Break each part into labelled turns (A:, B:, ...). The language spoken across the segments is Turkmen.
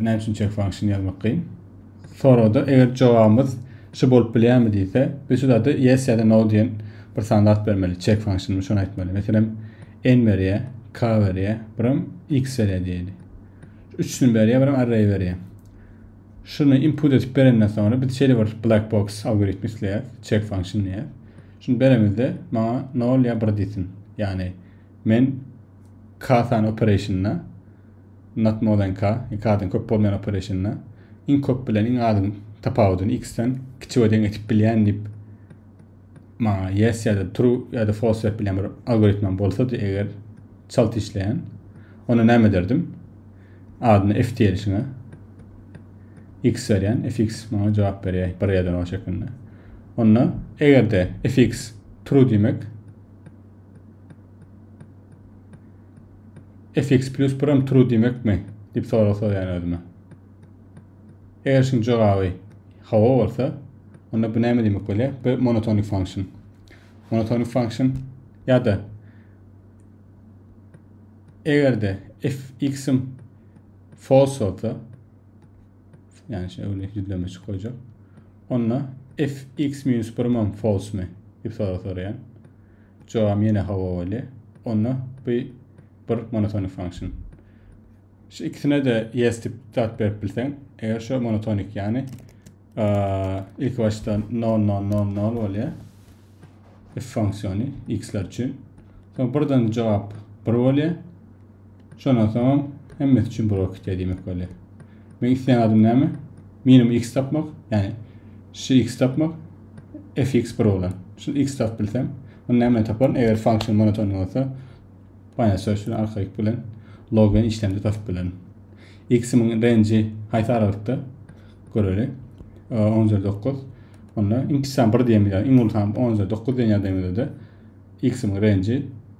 A: näme üçin check function ýazmak kyn? Soragda eger jogabymyz şu bolup bilýärmi diýse, biz şu zady yes ýa-da no diýen bir sanda at bermeli. Check function şony aýtmaly. Meselem, n berýär, k berýär, biram x berýär diýeli. Üçüsini berýär, biram array berýär. Şuny input edip berenden soňra biz şeýle bir black box algoritmi isleýäris, check function diýär. Şuny beremizde maňa 0 ýa 1 diýsin. Ýagny men k sany operationyna Not more than k, iki adyň köp bolmaýan opereşinine, iň köp bilen iň azyň tapawudyny x-den kiçi we deň etip bilýän diýip maňa yes ýa-da true ýa-da false berip bilýän bir algoritmam bolsady eger çalt işleýän onda näme ederdim adyna f diýelişine x berýän fx maňa jogap berýär bir ýerden o şekilde onda egerde fx true diýmek fx plus biram true diýmekmi? diýip sorag soraýan özüme. Eger şuň jogaby hawa bolsa, onda bu näme diýmek bolýar? Bu monotonic function. Monotonic function ýa-da eger-de fx-im false bolsa, ýani şu öwle ýüzleme şu goýjak. Onda fx minus birim hem false-mi? diýip sorag soraýan. Jogabym ýene hawa bolýa. Onda bu bir monotonik function. Şu ikisine-de yes dip zat berip bilseň, eger şu monotonik ýany ilki başda 0 0 0 0 bolýa. If funksiýony x-ler üçin. Soň birden jogap 1 bolýa. Şondan soňam hemmesi üçin bir okit edýmek bolýar. Men isleýän adym näme? Minimum x tapmak, ýagny şu x tapmak, fx bir bolan. Şu x tapyp bilsem, onda näme taparyn? Eger funksiýa monoton bolsa, Binary search bilen arkaýyk bilen log bilen işlemde tapyp bilerin. X-imiň range haýsy aralykda? Göreli. 10 üzeri 9. Onda iň kiçi san 1 diýen bilen iň uly san 10 üzeri 9 diýen ýagdaýymyzda x-imiň range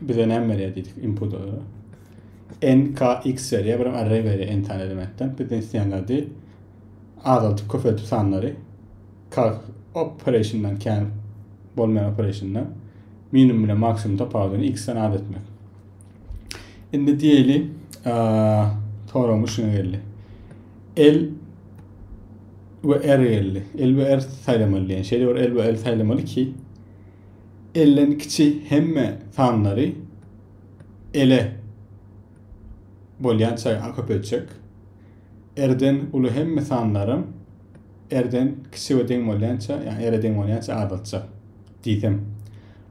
A: Bize näme berýär diýdik inputa görä. NKX berýär, bir array berýär n sany elementden. Bizden isleýänleri azaldyp köpeldip sanlary kalk operationdan kän bolmaýan operationdan minimum bilen maksimum tapawudyny x-den az etmek. Indi diýeli, soramyş şuna geldi. L we R geldi. L we R saýlamaly diýen. Şeýle bir L we R saýlamaly ki, Elden kiçi hemme sanlary ele bolýança a köpeltjek. Rden uly hemme sanlaram Rden kiçi we deň bolýança, ýagny R-e deň bolýança azaltjak diýsem.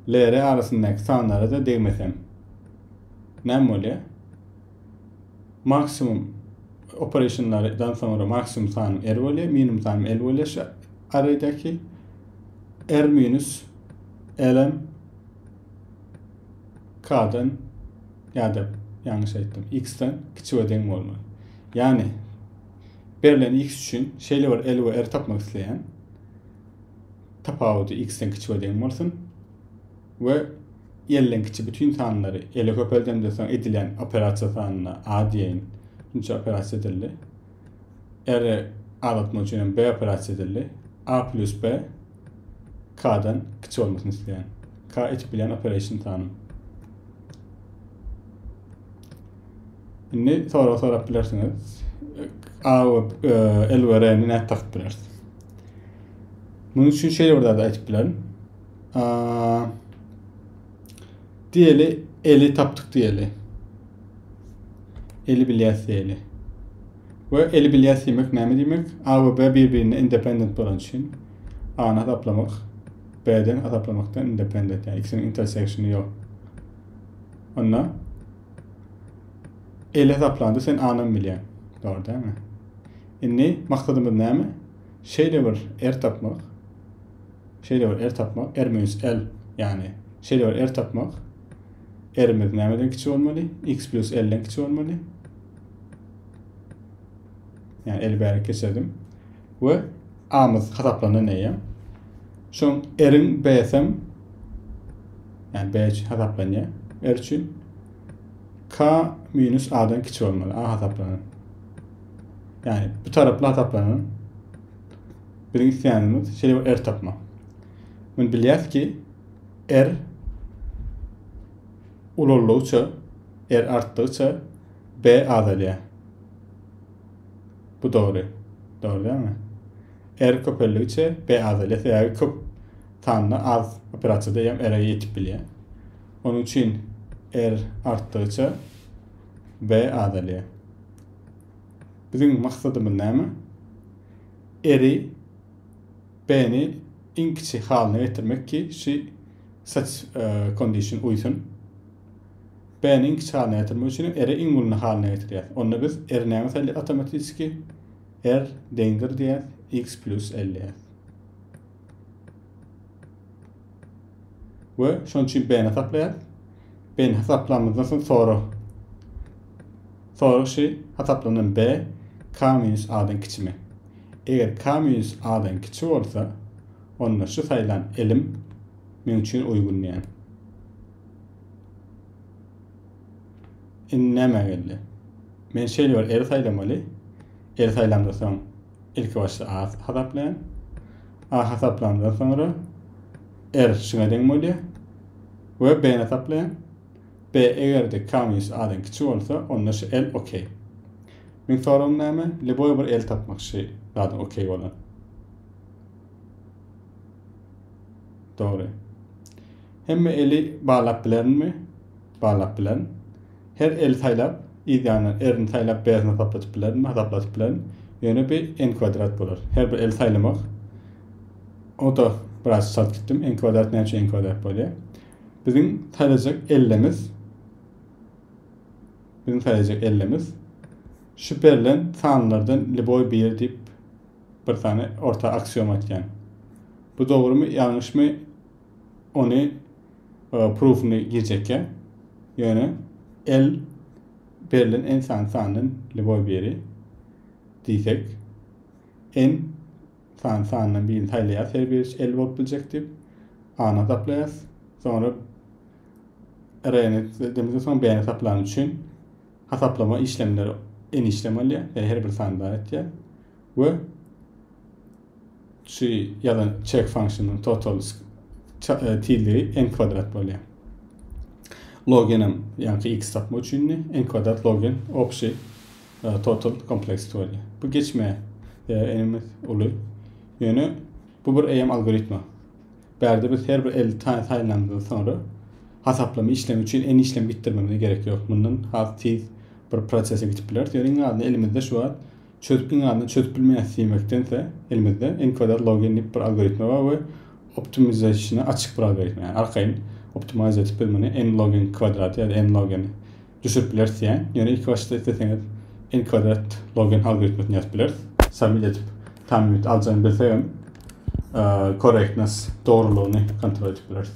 A: L-R arasyndaky sanlara-da degmesem. Näme bolýar? Maksimum operationlardan soňra maksimum sanym R bolýar, minimum sanym L bolýar şu arraýdaky. R minus LM K'dan ýa-da ýalňyş aýtdym, X-den kiçi we deň bolmaly. Ýagny berlen X üçin şeýle bir L we R tapmak isleýän. Tapawudy X-den kiçi we deň bolsun. We L-den kiçi bütün sanlary L-e köpeldemde soň edilen operasiýa sanyna A diýeýin. Şunça operasiýa edildi. R-i azaltmak üçin hem B operasiýasy edildi. A plus B K-dan kiçi olmasyny isleýän. K etip bilýän operation sanym. Indi sorag sorap bilersiňiz. A we e, L we R-ni nädip takyp bileris? Munuň üçin şeýle bir zat aýdyp bilerin. Diýeli, eli tapdyk diýeli. Eli bilýäs diýeli. We eli bilýäs diýmek näme diýmek? A we B bir-birine independent bolan üçin A-ny hasaplamak B-den hasaplamakdan independent, ýagny ikisiniň interseksiony ýok. Onda eli hasaplanda sen A-ny bilýän. Dogry dälmi? Indi maksadymyz näme? Şeýle bir R tapmak, Şeýle bir er tapmak, er minus l, ýagny şeýle bir er tapmak, r-imiz nämeden kiçi bolmaly? X plus l-den kiçi bolmaly. Ýagny l-i bärik geçirdim. We a-myz hasaplanda neýem? Şoň r-iň b-sem, ýagny b üçin hasaplanýar. R üçin k minus a-dan kiçi bolmaly. A hasaplanan. Ýagny bu taraply hasaplanan Biziň isleýänimiz şeýle bir är tapmak. Men bilýäs ki, är ulaldygyça, är artdygyça B azalýar. Bu dogry. Dogry dälmi? Är köpeldigiçe B azalýar. Sebäbi köp sanda az operasiýa diýýän ere ýetip bilýär. Onuň üçin R artdygyça B azalýar. Biziň maksadymyz näme? Eri Beni iň kiçi halyna getirmek ki she such condition uýsun. Beni iň kiçi halyna getirmek üçinem eri iň uluny halyna getirýär. Onda biz eri näme saýlaýar awtomatiski? R deňdir diýýär, x plus L diýýär. we şonuň üçin b-ni hasaplaýarys. B-ni hasaplamazdan soň sorag. Sorag şi hasaplanan b k minus a-dan kiçimi? Eger k minus a-dan kiçi bolsa, onda şu saýlan ilim meň üçin uýgun diýen. Indi näme geldi? Men şeýle bir eli saýlamaly. Eli saýlamda soň Ilki başda A hasaplaýan. A hasaplandan soňra R şuna deň bolýar. Ve B hasaplaýan. B eger de K minus A'dan kiçi bolsa, onda şu L OK. Men soragym näme? Liboy bir L tapmak şu zadyň OK bolan. Doğru. Hemme eli bağlap bilerin mi? Bağlap bilerin. Her el saýlap, yz ýanyndan erini saýlap bärisini hasapladyp bilerin, hasapladyp bilerin. Ýöne bi n kwadrat bolar. Her bir el saýlamak. O-da biraz çalt gitdim. N kwadrat näme üçin n kwadrat bolýar? Biziň saýlajak ellimiz biziň saýlajak ellimiz şu berlen sanlardan liboý biri diýip bir sany orta aksiom aýtýan. Bu dogrymy, ýalňyşmy? ony proofyny girjekýär. Ýöne el berlen en sany sandan lüboý biri diýsek, en sany sandan birini saýlaýas, her biri el bolup biljek diýip, A-ny hasaplaýas. Soňra R-ni demizden soň B-ni hasaplan üçin hasaplama işlemleri en işlem alýar, ýa her bir sany bar etýär we Şu ýazan check function-yň total tizligi n kwadrat bolýar. Logen hem ýaňky x tapmak üçindi. n kwadrat logen obşi total kompleks bolýar. Bu geçme enimiz uly. Ýöne bu bir eýem algoritma. Bärde biz her bir 50 tane saýlandan soňra hasaplama işlemi üçin n işlem gitdirmemize gerek ýok. Mundan has tiz bir prosese geçip bileris. Ýöne iň azynda elimizde şu wagt Çözüp iň azyndan çözüp bilmeýäs diýmekdense elimizde encoder login diýip bir algoritma bar we optimization'a açyk bir algoritma. Yani arkaýyn optimize edip biz muny n login kwadrat ya da n login düşürip bileris diýen. Ýöne ilk başda isleseňiz n kwadrat login algoritmasyny ýazyp bileris. Submit edip tam ýurt aljagyny bilsek hem correctness dogrulygyny kontrol edip bileris.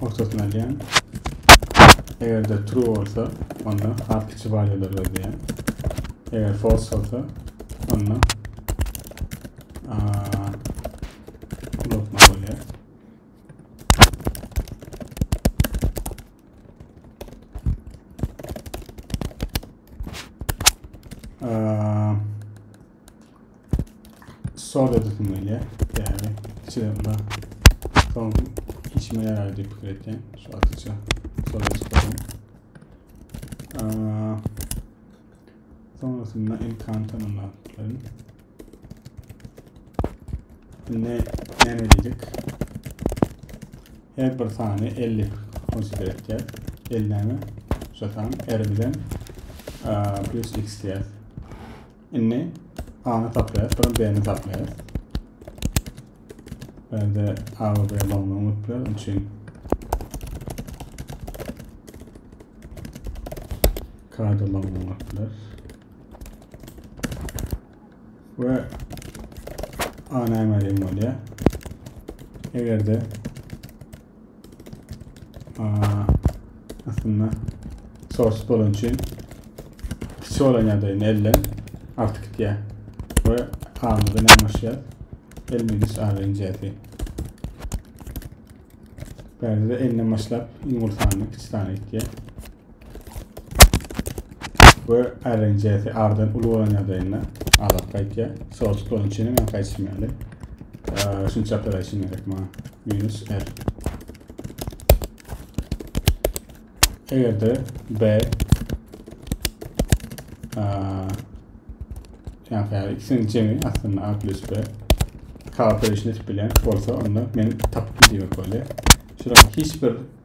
A: Ortasyny alýan. Eger-de true bolsa, onda has kiçi valýular gözleýän. Eger false bolsa, onda Soda döküm gelýär. Ýagny içe bar. Soň içime ýarar diýip pikir etýän. Şu atyça soda çykarýan. Sonrasynda enkantanymla bilerin. Indi näme edýädik? Her bir sany 50 konsider etýär. 50 näme? Şu sany R bilen plus x diýär. Indi A-ny saklaýas, sonra B-ni saklaýas. Bende A we B bolmagy mümkin, onun için K'da bolmagy mümkin. Ve A näme diýen bolýar? Eger de Aslynda sorsuz bolan üçin kiçi olan ýagdaýynda elden artyk gitýär we kanunda nämaşýar elmeniş arlenjäsi. Bärde de elden başlap iň ulu sany kiçi sany gitýär. we RNC'si ardan uly bolan ýagdaýynda azat gaýtýar. Source bolan üçin hem gaýtmaýarlar. Şunça operation gerek maňa. Minus R. Eger de B yani ikisinin cemi aslında A plus B kalkülüşünü etip bilen bolsa onda men tapıp diyor böyle. Şurada hiçbir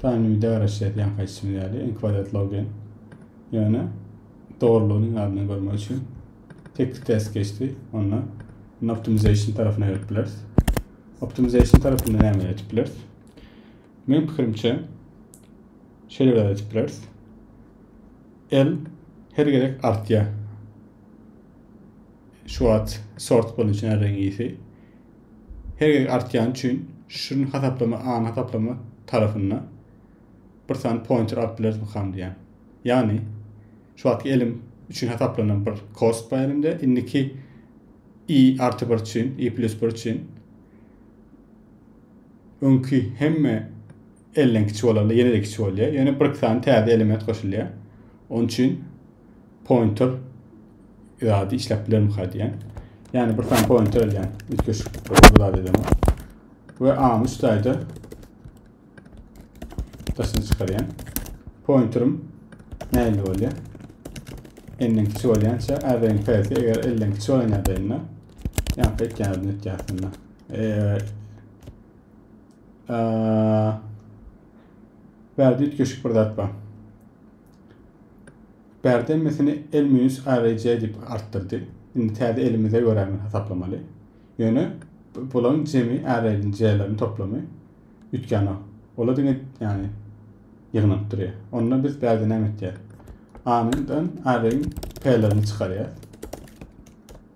A: Taýyny bir degreşýär ýaňky aýtşym ýaly enkwadat logen. Ýöne dogrulygyny ýadyna görmek üçin tekli test geçdi. Onda indi optimization tarapyna gelip bileris. Optimization tarapynda näme etip bileris? Men pikirimçe şeýle bir etip bileris. L her gezek artýar. Şu wagt sort bolan üçin R-iň ýiti. Her gezek artýany üçin şirin hasaplama any hasaplama tarapynda bir sany pointer alyp bilerismykam diýýän. Ýagny şu wagtky elim üçin hasaplanan bir kost bar elimde. Indiki i artı 1 üçin, i plus 1 üçin öňki hemme Elden kiçi bolanda ýene-de kiçi bolýar. Ýöne bir sany täze element goşulýar. Onuň üçin pointer ýa-da işläp bilermika diýen. Ýani bir sany pointer alýan. Üýtgeşik bir zat edemok. We A-ny üç taýda daşyna çykarýan. Pointerim nähili bolýar? Elden kiçi bolýança ädeň täze eger elden kiçi bolan ýagdaýynda ýa-da etýän etýän. Eee Bärde üýtgeşik bir zat bar. Bärde emmesini el minus arj diýip artdyrdy. Indi täze elimize görä men hasaplamaly. Ýöne bularyň jemi arrayň j-leriň toplamy üýtgänok. Ola diňe ýagny ýygnanyp durýar. Onda biz bärde näme etýäris? A-nyň arrayň p-lerini çykarýar.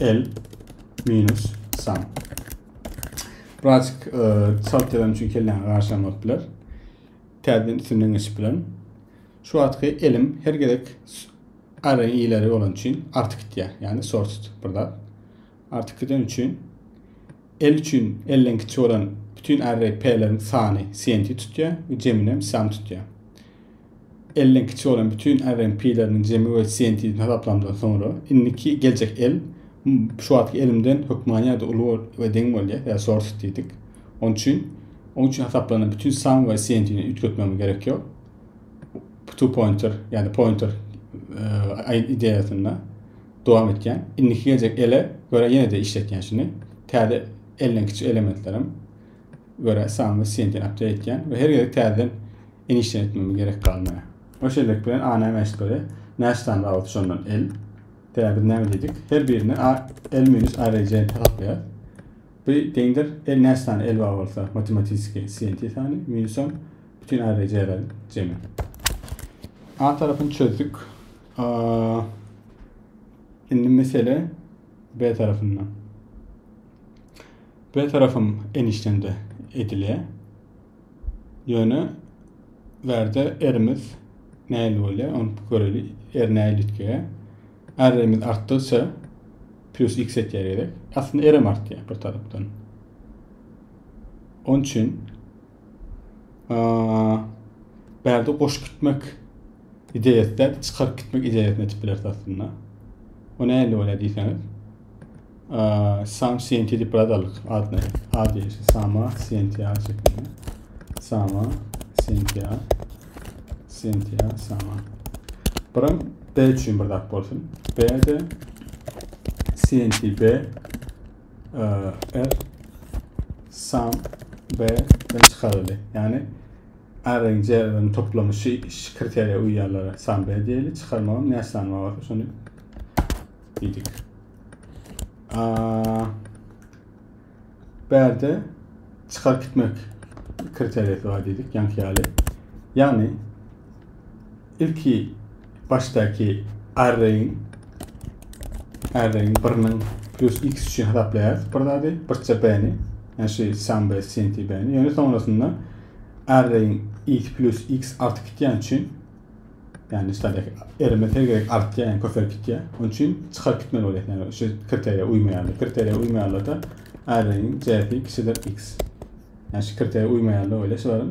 A: L minus san. Birazcık e, salt yalan üçin kelläňe garşamapdylar. Täzeden üstünden geçip bilen. Şu atky elim her gerek arayı ileri olan için artık gitýär. Yani sorted burada. Artık giden için el için elden kiçi olan bütün array p'lerin sani senti tutýar ve ceminem sam tutýar. Elden kiçi bolan bütin äriň pileriniň jemi we sientizini hasaplamdan soňra, indiki geljek el şu wagtky elimden hökmany ýa-da uly we deň bolýar, ýa source diýdik. Onuň üçin, oň üçin hasaplanan bütin sum we sientini üýtgetmegimiz gerek ýok. Two pointer, ýa-da pointer e, ideýasynda dowam etýän. Indiki geljek ele görä ýene-de işletýän şuny. Täze elden kiçi elementlerim görä sanly senti apdeit etýän we her gezek täzeden enişden etmegime gerek galmaýar. O şeýlelik bilen a näme eşit görýär? Näçe sany rabat şondan el? Tä biz näme diýdik? Her birine a el minus a rejeni hasaplaýarys. Bu deňdir el näçe sany el bar bolsa matematiski senti sany minusam bütin a rejeleriň jemi. A tarapyny çözdük. Indi mesele B tarafynda. B tarapyň enişdende edilýär. Ýöne bärde erimiz näil bolýar, ony göreli. Er näil üýtgeýär. Erimiz artdygyça plus x etýär gerek. Aslynda erim artýar bir tarapdan. Onun için bärde goşup gitmek ideýasy çykaryp gitmek ideýasyny etip bileris aslynda. O nähili bolýar diýseňiz. Sam CNT diýip biradarlyk adly ady Sama CNT şeklinde. Sama CNT CNT Sama. Buram B üçin bir zat bolsun. B de CNT B F sum B den çykaryldy. Yani R-in C-in toplamı kriteriýa uýýanlara sum B diýeli, çykarmagam näçe sany bolsa şony diýdik. Bärde çykaryp gitmek kriteriýasy bar diýdik, ýanki ýaly. Ýagny Ilki başdaky arraýyň arraýyň biriniň plus x üçin hasaplaýarys bir zady, birçe b-ni, ýa şu sum b, cnt b-ni. Ýöne soňrasynda arraýyň x plus x artyp gitýän üçin, ýagny şulardaky r-imiz her gezek artýar, ýagny köpelip gitýär. Onuň üçin çykaryp gitmeli bolýar. Ýagny şu kriteriýa uýmaýarlar. Kriteriýa uýmaýarlar-da arraýyň c-si kiçidir x. Ýagny şu kriteriýa uýmaýarlar öýle şularyň.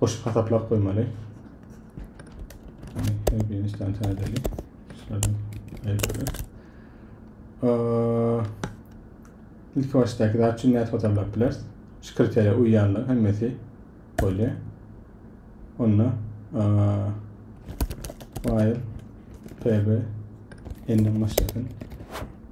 A: goşup hasaplap goýmaly. Geniş tansa edeli. Şulardan aýdylar. İlk başdaky zat üçin nädip hasaplap bileris? Şu kriteriýa uýýanlar hemmesi bolýar. Onda while pb endi başlasyn.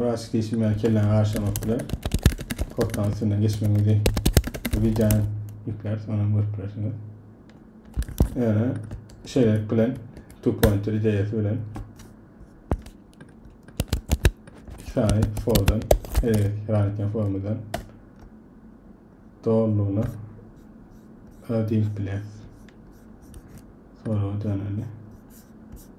A: Biraz geçim ýaly kelläňi garşamak bilen kortanyň üstünden geçmek bizi videony ýükläp soňam görüp bilersiňiz. Ýöne şeýlelik bilen two pointer ideýasy bilen iki sany fordan hereket formadan doğruluğuna ödeyip bilir. Sonra döneli.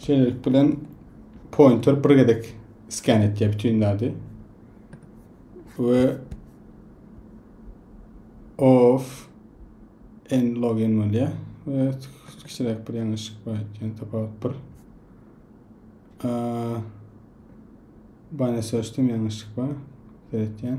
A: Şeýlelik bilen pointer bir gezek skan etýär bütün zady. We of en login bolýar. We kiçiräk bir ýalňyşlyk bar eken, tapawut bir. Bana seçdim ýalňyşlyk bar. Seretýän.